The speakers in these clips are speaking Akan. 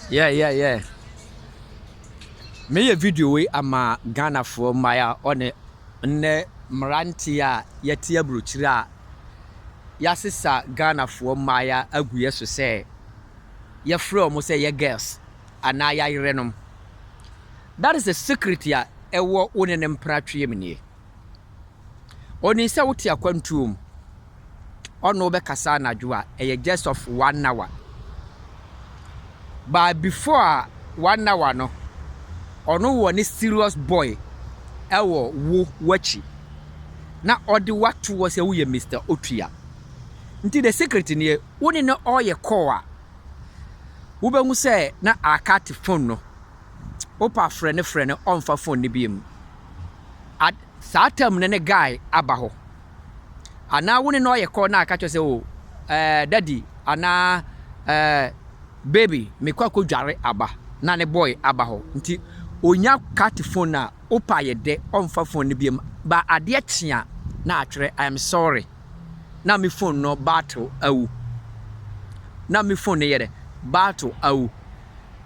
Yeah, yeah, yeah. Meyɛ video wei ama Ghanafoɔ mmaa a ɔne nnɛ mmeranteɛ a yɛte aburokyire a yɛasesa Ghanafoɔ mmaaya agu yɛ so sɛ yɛfrɛ wɔn sɛ yɛ girls anaa yɛayerɛnom. That is a secret a ɛwɔ wo ne ne mpratweɛ mu nie. Ɔnim sɛ wote akwantuo mu. ɔne wo bɛkasa anadwo a, ɛyɛ just of one hour. But before one hour no, ɔno wɔ ne serious boy ɛwɔ wo w'akyi na ɔde wato wɔ sɛ woyɛ Mr. Otua. Nti the secret nie, wo ne no ɔyɛ call a, wobɛhu sɛ na akate phone no. Wopɛ afrɛ no frɛ no, ɔmfa phone no bi mu. At saa time no ne guy aba hɔ. anaa wo ne no ayɛ kɔ na aka kyerɛ sɛ o eh, daddy anaa eh, baby mekɔ akɔdware aba na ne boy aba hɔ nti ɔnya cut phone a wopa yɛ dɛ ɔmfa phone no biam ba adeɛ kyea na atwerɛ I am sorry na me phone no battle awu na me phone no yɛ dɛ battle awu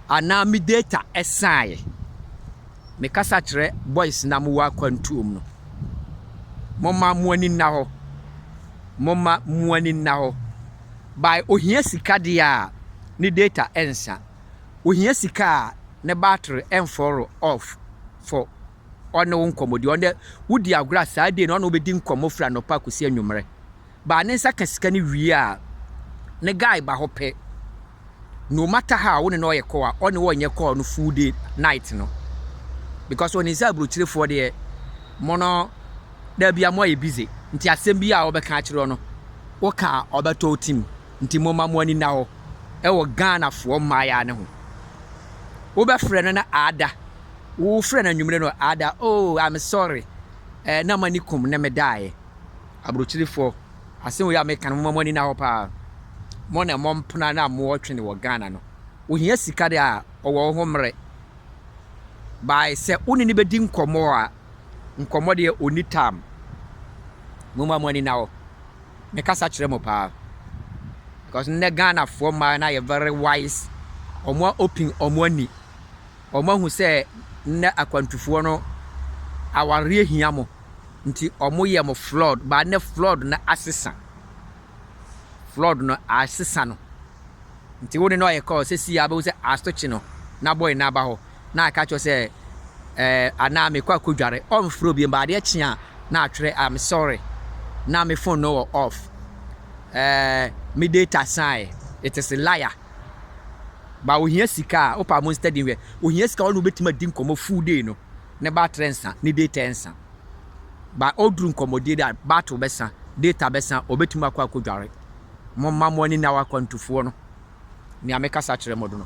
anaa me data ɛsaeɛ Mekasa kyerɛ boys no a mowɔ akwantuo mu no, momma mo ani nna hɔ, momma mo ani nna hɔ. By ohia sika deɛ a, ne data ɛnsa. Ohia sika a, ne battery ɛnfɔɔro off fɔ ɔne wo nkɔmmɔdie. Ɔno deɛ, wodi agorɔ a, saa day no ɔne wo bɛdi nkɔmmɔ firi anɔpa akɔsi anwummerɛ. baa ne nsa ka sika no wie a ne guy ba hɔ pɛ no matter how wo ne no ɔyɛ kɔ a ɔne wɔ nyɛ call no full day night no because ɔne sɛ aburokyirefoɔ deɛ mo no dabi a mo ayɛ busy nti asɛm bi a ɔbɛka akyerɛ no woka a ɔbɛtɔ wo tim nti mo ma mo ani na hɔ ɛwɔ Ghanafoɔ mmaayɛ ne ho wobɛfrɛ no na ada wofrɛ no anwummerɛ no ada oh I'm sorry eh, na m'ani kum ne medaeɛ Aburokyirifoɔ. Asɛm wei a meka no, momma mo ani nna hɔ paa. Mo na mo mpena na mo ɔtwe no wɔ Ghana no, ohia sika deɛ a, ɔwɔ wo ho mmerɛ. By sɛ wo ne no bɛdi nkɔmmɔ a, nkɔmmɔ deɛ ɔnni tam. Momma mo ani nna hɔ. Me kasa kyerɛ mo paa. Because nnɛ Ghanafoɔ mmaa no ayɛ very wise. Wɔn a open wɔn ani. Wɔn ahu sɛ nnɛ akwantufoɔ no awareɛ hia mo. Ntsi ɔmo yɛ mo flood ba ndɛ flood no asesa flood no asesa no ntsi wo ne no ayɛ call sesei a bohu sɛ astokye no n'abɔe no aba hɔ na aka akyerɛ sɛ ɛɛ anaa mekɔ akodware ɔmmfrɛ obiem ba adeɛ kye a na atwerɛ I'm sorry na me phone no wɔ off ɛɛ me data sae it is liar ba ohia sika a wopa mo study hwɛ ohia sika ɔno wobɛtumi adi nkɔmmɔ full day no ne baterɛ nsa ne data ɛnsa but ɔduru nkɔmmɔdie da battle bɛsa data bɛsa ɔbɛtumi akɔ akɔdware momma mo ani nna wɔ akwantufoɔ no nea mekasa kyerɛ mo do no.